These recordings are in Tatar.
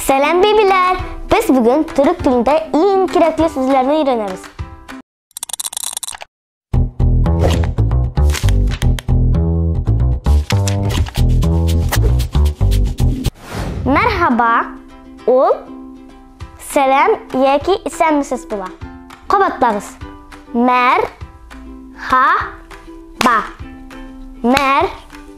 Сәлам, бибиләр! Без бүген төрек телендә иң кирәкле сүзләрне өйрәнәбез. Мәрхаба, ул сәлам яки исәнмесез була. Кабатлагыз. Мәрхаба. Мәрхаба.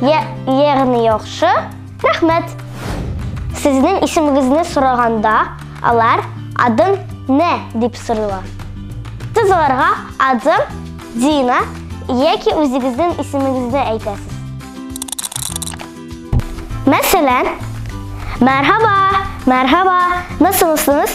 Я, ягъни яхшы. Рәхмәт. Сезнең исемегезне сораганда, алар адым не дип сорыйлар. Сез аларга адым Дина яки үзегезнең исемегезне әйтәсез. Мәсәлән, Мәрхаба, мәрхаба, насылсыз?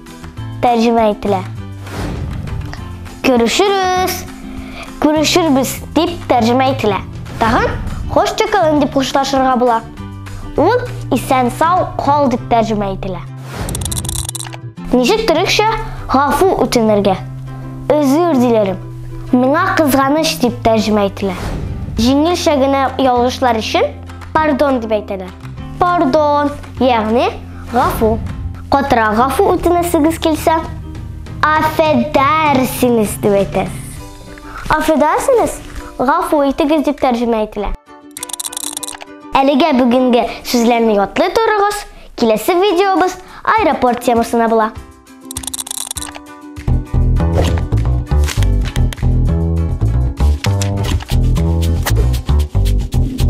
тәрҗемә ителә. Күрешербез, күрешербез дип тәрҗемә ителә. Тагын хош чакалын дип хушлашырга була. Ул исән сау кал дип тәрҗемә ителә. Ничек төрекчә гафу үтенергә? Өзүр диләрем. Миңа кызганыч дип тәрҗемә ителә. Җиңелчә генә ялгышлар өчен пардон дип әйтәләр. Пардон, ягъни Гафу. Катырак гафу үтенәсегез килсә, афәдәрсинез дип әйтәсез. Афәдәрсинез, гафу итегез дип тәрҗемә ителә. Әлегә бүгенге сүзләрне ятлый торыгыз, киләсе видеобыз аэропорт темасына була.